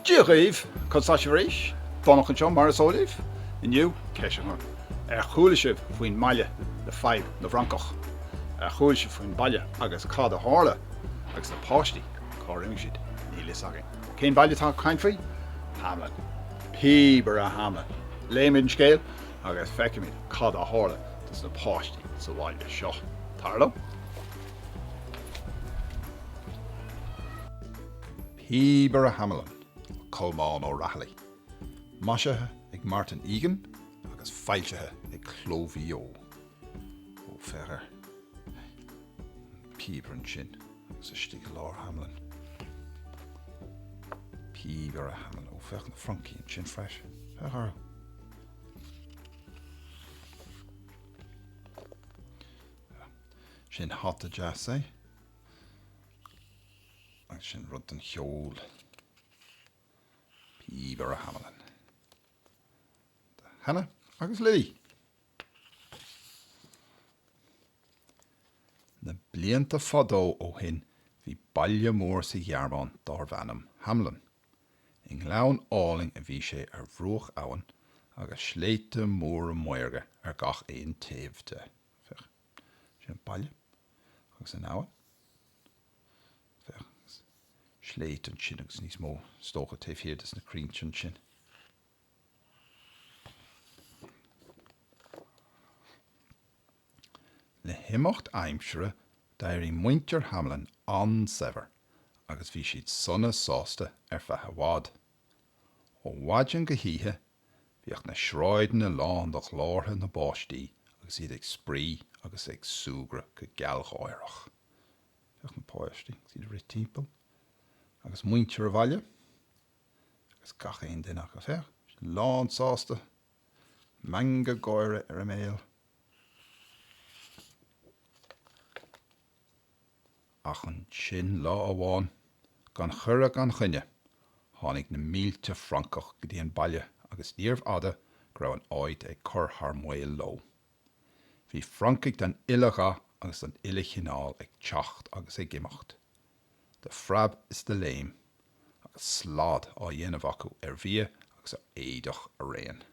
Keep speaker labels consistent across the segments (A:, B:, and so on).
A: Dia dhaoibh! Conas atá sibh arís? Donncha anseo mar is eol daoibh. Inniu, ceist daoibh. Ar chuala sibh faoin mbaile le fadhb na bhfrancach? Ar chuala sibh faoin baile agus cad a tharla agus na páistí, cá raibh siad? Níl a fhios againn. Cén baile atá mé ag caint faoi? Hamelin. Píobaire Hamelin. Léimid an scéal agus feicimid cad a tharla dos na páistí sa bhaile seo. Tar liom. Píobaire Hamelin, Colmán Ó Raghallaigh. Maisithe ag Martin Fagan agus foilsithe ag Cló Mhaigh Eo. Ó féach air. Píobaire ansin. Agus istigh i lár Hamelin. Píobaire Hamelin. Ó, féach na francaigh ansin freisin. Féach air. Sin hata deas, ea? Agus sin rud don cheol. Píobaire Hamelin. Hannah agus Lily. Na blianta fadó ó shin bhí baile mór sa Ghearmáin dárbh ainm Hamelin. I ngleann álainn a bhí sé ar bhruach abhann agus sléibhte móra maorga ar gach aon taobh de. Féach, sin an baile agus an abhainn. Féach, sléibhte ansin agus níos mó, is dócha, taobh thiar dos na crainnte ansin. Le himeacht aimsire d'éirigh muintir Hamelin an-saibhir agus bhí siad sona sásta ar feadh i bhfad. Ó mhaidin go hoíche bhíodh na sráideanna lán de ghlórtha na bpáistí agus iad ag spraoi agus ag súgradh go gealgháireach. Féach na páistí agus iad ag rith timpeall agus muintir an bhaile agus gach aon duine acu, féach, lán sásta, meangadh gáire ar a mbéal. Ach ansin lá amháin, gan chuireadh gan choinne, tháinig na mílte francach go dtí an baile agus níorbh fhada go raibh an áit ag cur thar maoil leo. Bhí francaigh den uile dhath agus den uile chineál ag teacht agus ag imeacht, de phreab is de léim, agus slad á dhéanamh acu ar bhia agus ar éadach araon.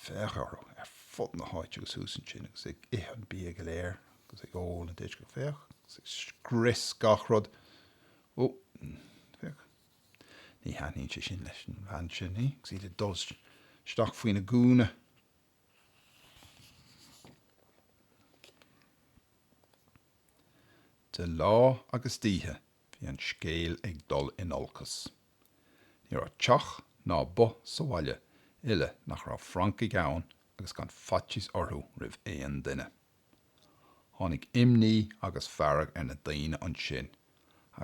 A: Féach orthu ar fud na háite agus thuas ansin agus ag ithe an bia go léir agus ag ól an deoch féach agus ag scrios gach rud. Ó, féach, ní thaitníonn sé sin leis an bhean sin, ní? agus iad ag dul isteach faoina gúna. De lá agus d'oíche bhí an scéal ag dul in olcas. Ní raibh teach ná both sa bhaile uile nach raibh francaigh ann agus gan faitíos orthu roimh aon duine. Tháinig imní agus fearg ar na daoine ansin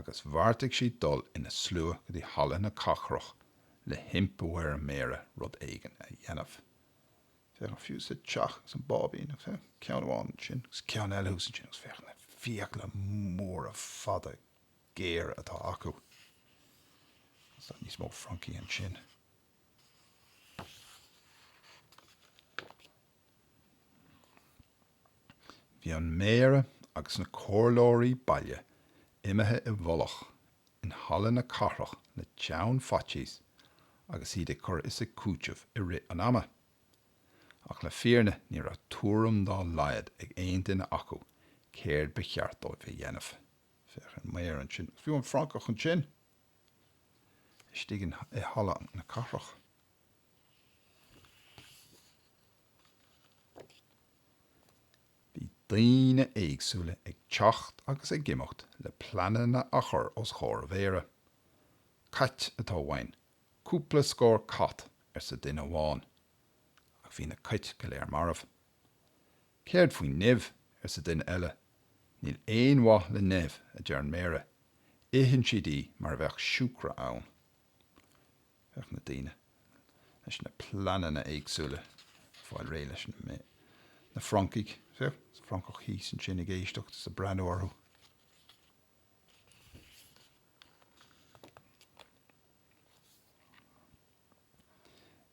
A: agus bheartaigh siad dul ina slua go dtí Halla na Cathrach le himpiú ar an Méara rud éigin a dhéanamh. Féach ann fiú sa teach agus an báibín agus ceann amháin ansin agus ceann eile thuas ansin agus féach na fiacla móra fada géar atá acu. Agus níos mó francaigh ansin. Bhí an Méara agus na comhairleoirí baile imithe i bhfolach in Halla na Cathrach le teann faitíos agus iad ag cur is ag cúiteamh i rith an ama. Ach le fírinne ní raibh tuairim dá laghad ag aon duine acu céard ba cheart dóibh a dhéanamh. Féach an méara ansin, agus fiú an francach ansin, istigh in, i Halla na Cathrach. Bhí daoine éagsúla ag teacht agus ag imeacht le pleananna a chur os chomhair an mhéara. Cait atá uainn, cúpla scór cat, arsa duine amháin. Ach bhí na cait go léir marbh. Céard faoin nimh? arsa duine eile. Níl aon mhaith le nimh, a deir an méara, itheann siad í mar a bheadh siúcra ann. Féach na daoine leis na pleananna éagsúla ag fáil réidh leis na, na francaigh, féach, is francach thíos ansin ag éisteacht is ag breathnú orthu.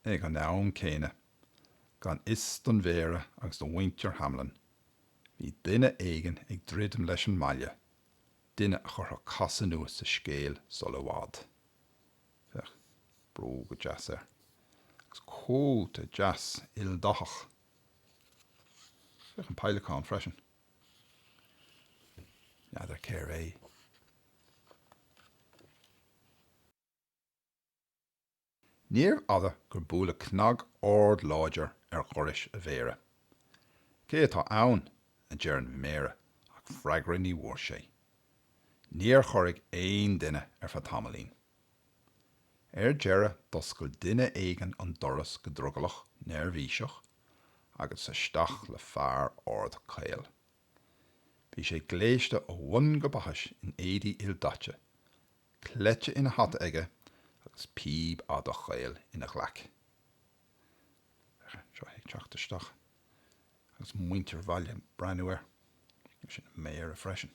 A: Ag an am céanna, gan fhios don Mhéara agus do mhuintir Hamelin, bhí duine éigin ag druidim leis an mbaile, duine a chuirfeadh casadh nua sa scéal sul i bhfad. Féach, bróga deasa air. Agus cóta deas ildathach. Féach an peileacán freisin. N'fheadar cé hé. Níorbh fhada gur buaileadh cnag ard láidir ar dhoras an mhéara. Cé atá ann? a deir an méara ach freagra ní bhfuair sé. Níor chorraigh aon duine ar feadh tamaillín. Ar deireadh d'oscail duine éigin an doras go drogallach neirbhíseach agus isteach le fear ard caol. Bhí sé gléasta ó bhun go baithis in éadaí ildaite cleite ina hata aige agus píb fhada chaol ina ghlaic. Seo é ag teacht isteach agus muintir an bhaile ag breathnú air. Sin an Méara freisin.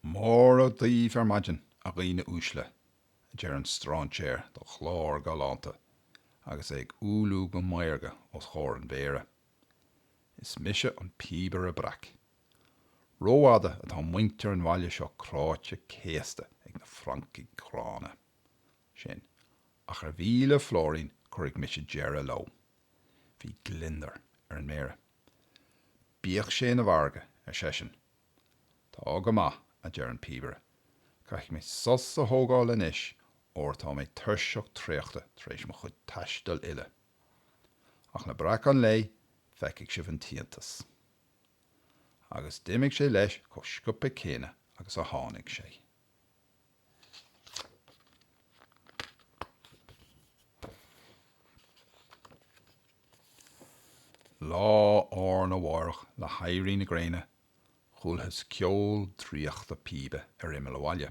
A: Mora daoibh ar maidin, a dhaoine uaisle, a deir an stráinséar de ghlór galánta agus é ag umhlú go maorga os chomhair an Mhéara. Is mise an Píobaire Breac. Rófhada atá muintir an bhaile seo cráite céasta ag na francaigh ghránna sin, ach ar mhíle flóirín cuirfidh mise deireadh leo. Bhí gliondar ar an Méara. Bíodh sé ina mhargadh, ar seisean. Tá go maith, a deir an Píobaire, caithfidh mé sos a thógáil anois óir tá mé tuirseach traochta tar éis mo chuid taistil uile. Ach le breacadh an lae feicfidh sibh an t-iontas. Agus d'imigh sé leis chomh scioptha céanna agus a tháinig sé. Lá arna mháireach le héirí na gréine chualathas ceol draíochta píbe ar imeall an bhaile.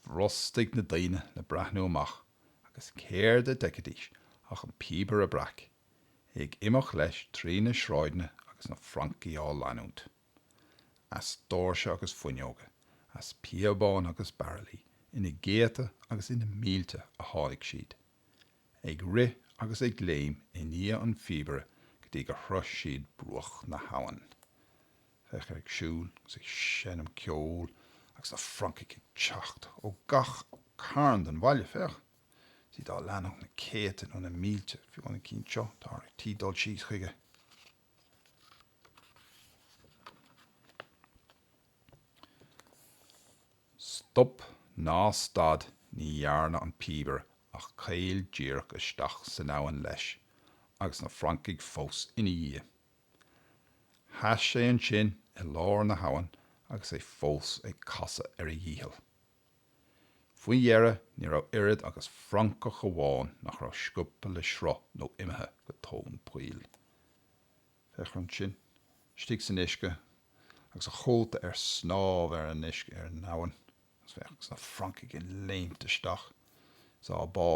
A: Bhrostaigh na daoine le breathnú amach agus céard a d'fheicfidís ach an píobaire breac, é ag imeacht leis trí na sráideanna agus na francaigh á leanúint. As doirse agus fuinneoga, as píobáin agus baraillí, ina gcéadta agus ina mílte a tháinig siad. ag rith agus ag léim i ndiaidh an phíobaire go dtí gur shrois siad bruach na habhann. Féach air ag siúl agus ag seinm ceoil agus na francaigh ag teacht ó gach cearn den bhaile. Féach, tá siad á leanacht na céadta nó na mílte, fiú an cinn seo, tá ar tí dul síos chuige. Stop ná stad ní dhearna an píobaire ach caol díreach isteach san abhainn leis agus na francaigh fós ina dhiaidh. Sheas sé ansin i lár na habhann agus é fós ag casadh ar a dhícheall. Faoi dheireadh ní raibh oiread agus francach amháin nach raibh scuabtha le sruth nó imithe go tóin poill. Féach orm sin, istigh san uisce agus a chóta ar snámh ar an uisce ar an abhainn agus na francaigh ag léimt isteach is á bá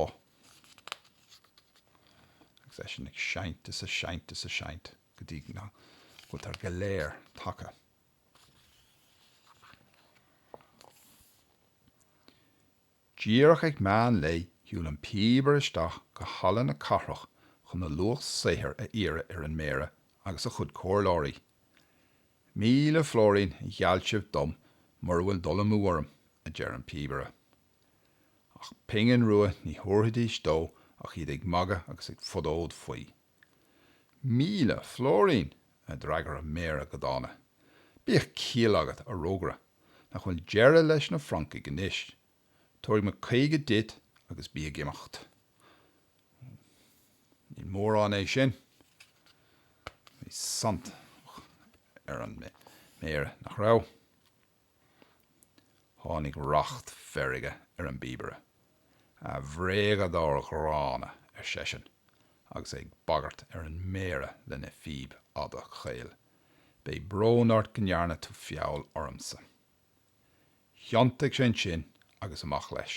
A: agus eisean ag seinnt is ag seinnt is ag seinnt go dtí go rabhadar go léir tagtha. Díreach ag meán lae shiúil an píobaire isteach go Halla na Cathrach chun a luach saothair a iarraidh ar an Méara agus a chuid comhairleoirí. Míle flóirín a gheall sibh dom mura bhfuil dul amú orm, a deir an píobaire. Ach pingin rua ní thabharfaidís dó ach iad ag magadh agus ag fonóid faoi. Míle flóirín! a d'fhreagair an Méara go dána. Bíodh ciall agat, a rógaire, nach bhfuil deireadh leis na francaigh anois. Tabharfaidh mé caoga duit agus bí ag imeacht. Ní mórán é sin. Bhí saint ar an Méara, nach raibh? Tháinig racht feirge ar an bpíobaire. A bhréagadóir ghránna, ar seisean, agus é ag bagairt ar an méara lena phíb fhada chaol, beidh brón ort go ndearna tú feall ormsa. Thiontaigh sé ansin agus amach leis.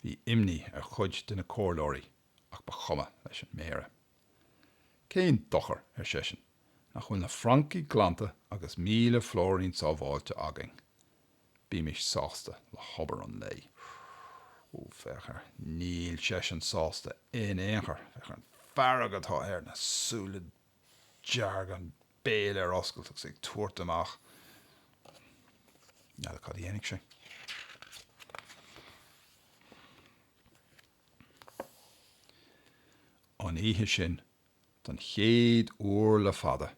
A: Bhí imní ar chuid de na comhairleoirí ach ba chuma leis an Méara. Cén dochar, ar seisean, nach bhfuil na francaigh glanta agus míle flóirín sábháilte againn. Bímis sásta le hobair an lae. Ó, féach air, níl seisean sásta in aon chor. Féach ar an fhearg atá air, na súile dearg, an béal ar oscailt agus é ag tabhairt amach. N'fheadar cad a dhéanfaidh sé. An oíche sin, don chéad uair le fada,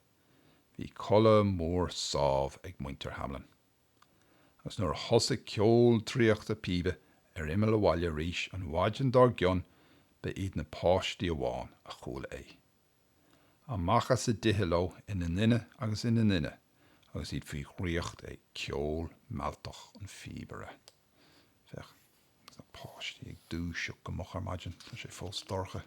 A: bhí codladh mór sámh ag muintir Hamelin. Agus nuair a thosaigh ceol draíochta píbe ar imeall an bhaile arís an mhaidin dár gcionn ba iad na páistí amháin a chuala é. Amach as a dtithe leo ina nduine agus ina nduine agus iad faoi dhraíocht ag ceol mealltach an phíobaire. Féach, agus na páistí ag dúiseacht go moch ar maidin, tá sé fós dorcha.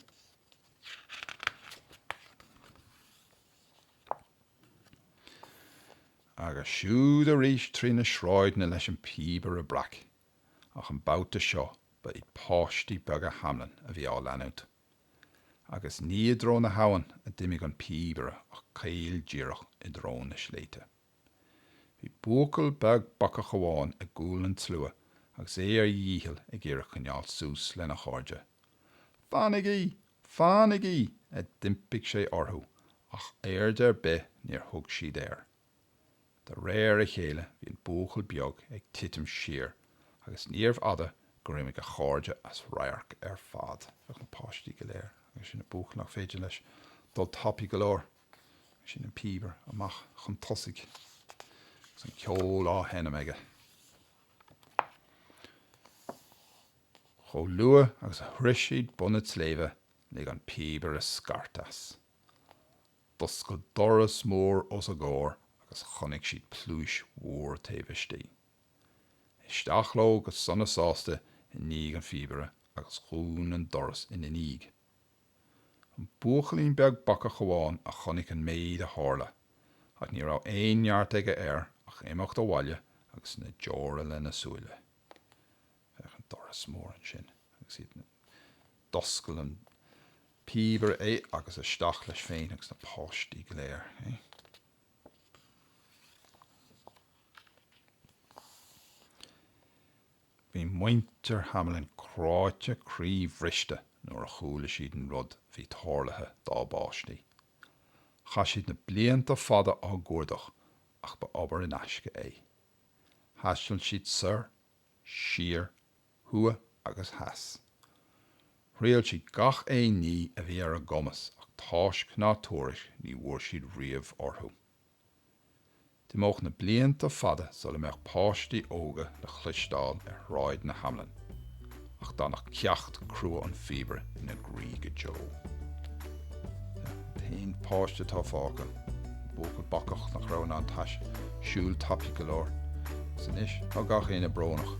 A: Agus siúd arís trí na sráideanna leis an bpíobaire breac, ach an babhta seo ba iad páistí beaga Hamelin a bhí á leanúint. Agus ní i dtreo na habhann a d'imigh an píobaire ach caol díreach i dtreo na sléibhte. Bhí buachaill beag bacach amháin i gcúl an tslua agus é ar a dhícheall ag iarraidh coinneáil suas lena chairde. Fanaigí! Fanaigí! a d'impigh sé orthu ach aird ar bith níor thug siad air. De réir a chéile bhí an buachaill beag ag titim siar agus níorbh fhada gur imigh a chairde as radharc ar fad. Féach na páistí go léir, agus ansin an buachaill nach féidir leis dul tapaidh go leor, agus ansin an píobaire amach chun tosaigh agus an ceol á sheinm aige. Chomh luath agus a shroich siad bun an tsléibhe lig an píobaire scairt as. D'oscail doras mór os a gcomhair agus chonaic siad pluais mhór taobh istigh. Isteach leo go sona sásta i ndiaidh an phíobaire agus dhún an doras ina ndiaidh. An buachaillín beag bacach amháin a chonaic an méid a tharla ach ní raibh aon neart aige air ach imeacht abhaile agus na deora lena súile. Féach an doras mór ansin agus iad na. D'oscail an píobaire é agus isteach leis féin agus na páistí go léir. Bhí muintir Hamelin cráite croíbhriste nuair a chuala siad an rud a bhí tarlaithe dá bpáistí. Chaith siad na blianta fada á gcuardach ach ba obair in aisce é. Thaistil siad soir siar, thuaidh agus theas. Thriail siad gach aon ní a bhí ar a gcumas ach táisc ná tuairisc ní bhfuair siad riamh orthu. D'imeodh na blianta fada sula mbeadh páistí óga le chloisteáil ar shráideanna Hamelin ach d'fhanfadh ceacht crua an phíobaire ina gcroí go deo. Tá aon pháiste fágtha, buachaill bacach nach raibh in ann tais, siúl tapaidh go leor. Is anois tá gach éinne brónach.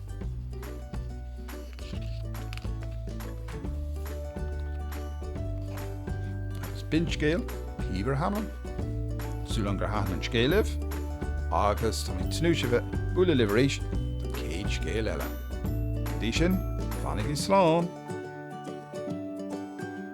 A: Is b'in scéal Píobaire Hamelin. Súil agam gur thaitin an scéal libh agus tá mé ag tnúth le bheith ag bualadh libh arís don chéad scéal eile. Go dtí sin, fanaigí slán!